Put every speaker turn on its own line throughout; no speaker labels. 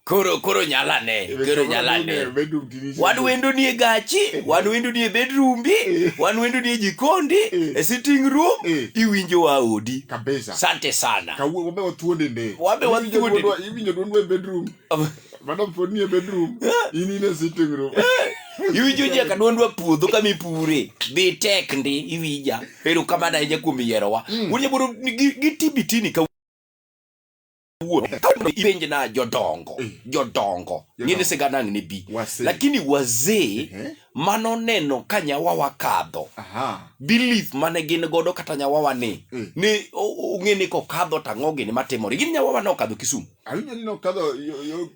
koro koro nyala ne koro nyala ne wan wendo nie gachi eh. wan wendo nie bedrumbi eh. wan wendo nie jikondi eh. e sitting room iwinjo wa odi kabisa sante
sana kawuono
wabe wathuonde ne
wabe wathuonde
iwinjo duonwa e
bedroom madam pod nie bedroom in in e sitting room iwinjo ji
ka dwondwa puodho kama ipure dhi tek ndi iwinja ero kamano ahinya kuom yierowa mm. wuon nyaboro gitibitini ipenje na jodongo eh. jodongo ng'ene sigana ne bi lakini wazee eh. mano neno ka nyawa wakadho belief mane gin godo kata nyawa wa ni eh. ni ong'e ni kokadho tang'o gini matimore gin nyawa wa nokadho kisumu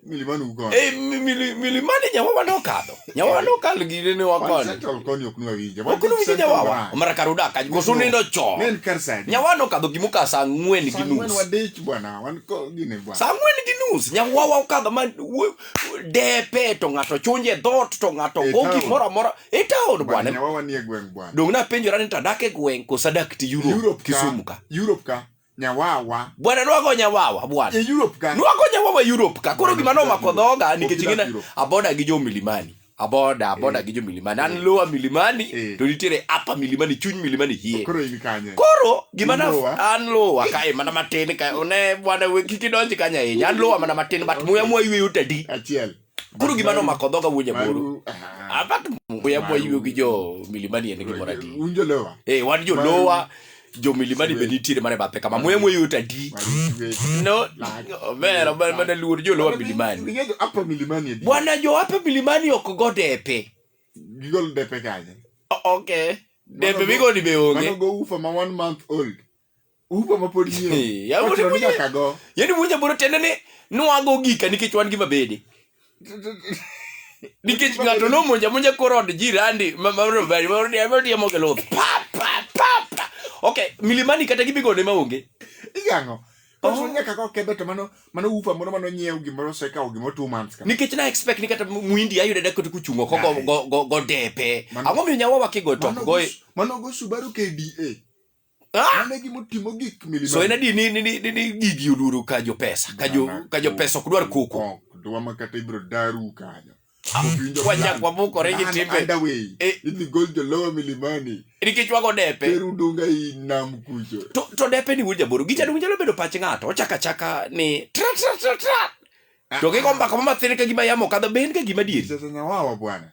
Milimani uko. Eh, mi- mili- milimani
nyawawa nokadho nyawawa nokal gine ne wakoni Wansettle koni ok nwa winja.
Wan okunu winje Central nyawawa Bank. omara
kar udaka koso nindo Ne chon en kar saa adi? nyawawa nokadho gimuka saa ang'wen gi Saa ang'wen nus wadich bwana, wan
ko gine bwana. saa ang'wen gi nus
nyawawa okadho ma wo- depe to ng'ato chunje dhot to ng'ato E go town. gimoro amora e taon Bwana, bwana nyawawa nie gweng' bwana.
dong napenjora ni tadak
e gweng' koso adak ti Europe Europe ka. Kisumu ka Europe ka.
Nyawawa. Bwana nwago
nyawawa bwana. E Europe ka. Nwago
nyawawa Europe
ka. Koro gima nomako dhoga nikech ing'e aboda gi jo milimani. Aboda, aboda eh. gi jo milimani. An eh. lower milimani eh. to nitiere upper milimani, chuny milimani hie. Koro in kanye? Koro
gima na
an lower ka e mana matin ka one bwana we kiki donji kanya e. An lower mana matin but muya muya yueyo tadi. Achiel. Koro
gima nomako
dhoga wuonya moro. Abat muya mwa ywe gi jo milimani en gimoro adi. Un jolowa. Eh
wan jolowa
jo milimani be nitiere mane bathe kama muya mwa yot adi. No mera man mana luor jolowa milimani. Ningejo apa milimani
edi. Bwana jo hapa
milimani ok go depe. Gigol
depe kanye. Okay.
Depe migo ni be Mano onge. go ufa ma one
month old. upa mapod nyiewo Eh, yaani Ochuno ni mwenye- nyaka go
yaani mwenye boro tende ni nwago gika nikech wan gi mabede nikech ng'ato nomonja monja kor od jirandi mamariamogel luth pa pa pa pa ok milimani kata gibigone maonge igang'o
Oh. ochuno ni nyaka go kebe to mano mano upa moro mano nyiewo gimoro osekawo gimoro two months ka nikech na expect ni kata
muindi ayude da kote kuchungo ko go- go- go- godepe Mano- ang'o miyo nyawawa kigo top mano go goe mano go subaru
kda Ah! Mane gima otimo gik milima. So en adi ni ni ni ni-
ni gigi oluoro ka jo pesa, ka jo Mana ka jo pesa ok dwar koko. koko. Dwa ma kata ibiro
daru kanyo. Winjo Wanya plan.
kwa moko regi Plan timbe. underway. Eh. Idhi gol
jo lower milimani. Nikech wago depe.
Teru dunga i
nam kucho. To to depe ni wuod jaboro.
Gichalo gichalo bedo pach ng'ato. Ochaka chaka ni tra tra tra tra. To gigo mbaka ma mathin ka gima yamo kadho ben ka gima dieri. Sasa nyawawa bwana.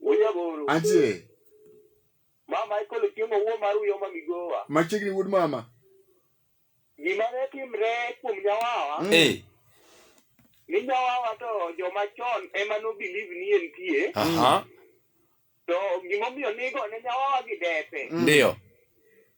Wuoyagoro. Antie. Mama ikolo chiemo wuo mar uyo ma migowa. Machiegni wuod mama. Gima ne timre kuom nyawawa. Mm. Eh. Ni nyawawa to joma chon ema no believe ni entie. Aha. To gimomiyo nigo ne nyawawa gi depe. Mm. Ndio.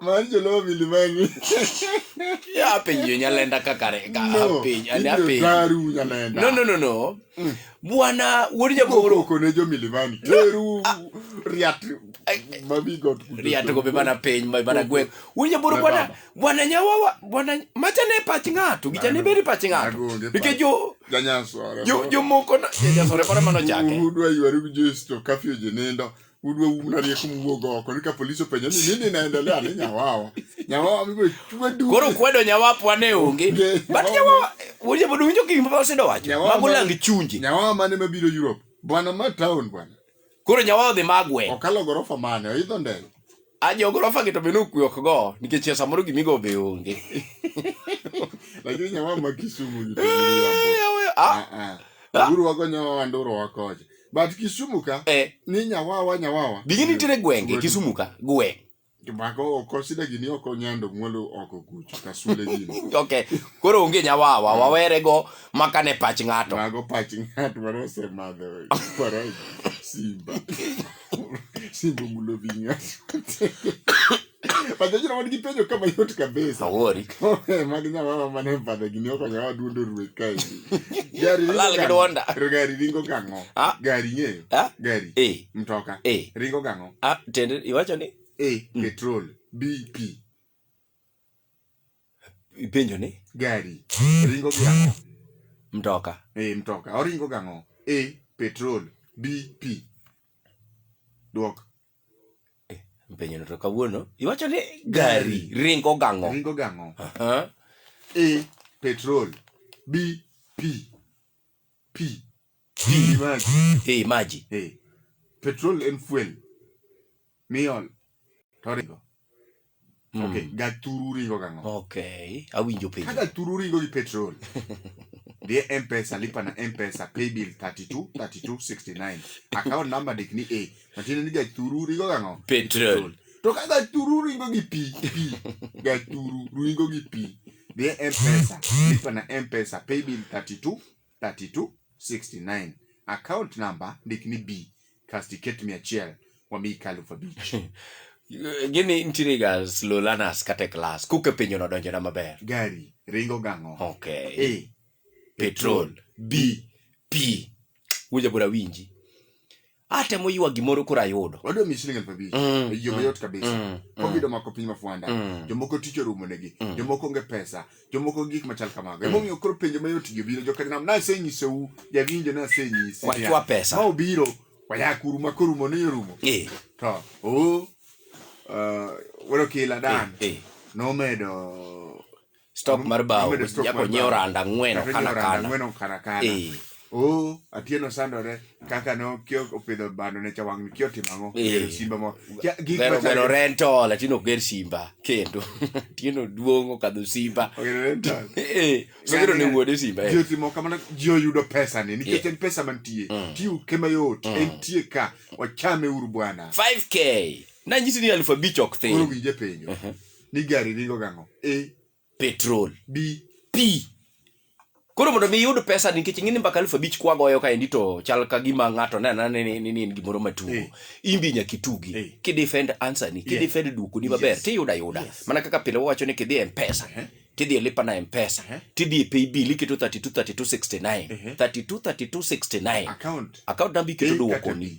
Mano joluo milimani.
Ya piny yo nyalenda kaka re- ka- No, piny, ane ibiro piny. daru
nyalenda. No, no, no, no.
Bwana wuod jagoro Koko ne jo milimani.
Teru riat babi got. riato go be
mana piny ma- mana gweng. Wuod jagoro Ne bwana baba. bwana nyawawa bwana macha ne pach ng'ato gicha ne bedi pach ng'ato Agonge nikech jo Janyasore. jo jomoko na janyasore moro mano chake Udwa ywaru gi Jesu
kafio jinindo. Udwa umna rieko muwuog oko. Nika polisi openjo ni nini inaendelea ni nyawawa. Nyawawa mibo chwe du. koro kwedo nyawapwa
ne onge Onge. but nyawawa wuoje bodo winjo gik ma osedo wacho Nyawawa mago ma- lang chunje Nyawawa mane mabiro
Europe. Bwana ma town bwana. Koro nyawa odhi
magwe. Okalo gorofa mane?
Oidho ndege. A jogorofa
gi to be nokwe ok go nikech ya samoro gimigo be onge.
Lakini nyawa ma Kisumu ni to Eh, yawa, ah, ah ah. ah, Uru wago nyawa wanduro wakoje. But Kisumu ka eh, ni nyawawa nyawawa. bigi nitiere gwenge
Kisumu ka gweng'. Mako oko
sida gini oko nyando mwalo oko kucho kasule gini. okay. Koro onge
nyawawa mm. wawere go maka ne pach ng'ato. Mago pach ng'ato
mano ose madho. Kwara simba. Simba mulo vinya. Padre jina wadi kipenyo kama yote kabisa. Awori. Eh,
Magi na mama
mane padre gini oko nyawa dundo ruwe kai. Gari ringo Lala kidwanda. Gari ringo kango. Gari nye. Gari. Eh. Mtoka. Eh. Ringo kango. Ah, tende iwacho ni
A. Mm. Petrol.
B. Pi.
ipenjo ni Gari.
Ringo gi ang'o? mtoka.
A. Mtoka. Oringo
gi ang'o? A. Petrol. B. Pi. Dwok.
Mpenyo no to kawuono iwacho ni gari ringo gang'o. Ringo gi ang'o? Aha. A.
Petrol. B. Pi. Pi.
Pi, maji. Eh, maji. Eh.
Petrol en fuel. Miol. Torigo. Mm. Okay, gaturu ringo gang'o? Okay, awinjo
penjo. Kada turu ringo gi
petrol. Dhie M-Pesa, lipa na M-Pesa, pay bill 32 32 69. Account number dik ni A. Matiende ni gaturu ringo gang'o? Petrol. To
ka gaturu
ringo gi pi, pi. Gaturu ringo gi pi. Dhie M-Pesa, lipa na M-Pesa, pay bill 32 3269 account number ndik ni b kasti ket mia achiel wamiyi kalufu abich gini
nitiere ga slow learners kata e klas kuke penjo no donjona maber gari ringo
gang'o okay a
petrol b p winja bura winji atemo ywa gimoro koro ayudo wadwa mi siling elfu abich
Mm, e yo mm, mayot kabisa mm, mm. covid omako piny mafwanda Mm. jomoko tich orumonegi Mm. jomoko onge pesa jomoko gik machal kamago emomiyo koro penjo mayot gi obiro jokanam nasenyisou jawinjo nasenyisi niya, Wachwa pesa. ma obiro wayakuru
ma
korumo ni orumo Eh, to
o
uh, wero kila dan eh, eh. nomedo stock
mar bao Amedo stock jako mar nyiewo bao. randa ang'wen Kata okana nyiewo randa kana ang'wen okana kana.
Eh, Oh, Atieno sandore kaka no kio opidho bando ne chawang kio timo ang'o? Eh. Gero simba mo. Kia- Gik gero machal- gero
rental atino ger simba kendo tieno duong' okadho simba Ogero rental. Eh, sogero ne wuode simba eh. ji otimo kamano ji
oyudo pesa ni nikech Yeah. en pesa mantie Mm. tiu kema yot Mm. entie ka wachame uru bwana 5k
nanyisi ni alfu abich ok koro thin winje penjo
Ni gari ringo gang'o? A. Petrol.
B.
Pi.
Koro mondo mi iyud pesa nikech ing'e ni mbaka elfu abich kwagoyo kaendi to chal ka gima ng'ato ne anena ni ni- ni en gimoro matugo Eh. imbi nyaka itugi Eh. kidefend answer ni kidefend yeah. duoko ni maber Yes. tiyudo ayuda Yes. mana kaka pile wawacho ni kidhi e mpesa Eh. tidhi e lipa na mpesa Eh. tidhi e pay bill iketo 32 32 69 Eh. 32 32 69 Account. account number iketo A kata duoko ni B.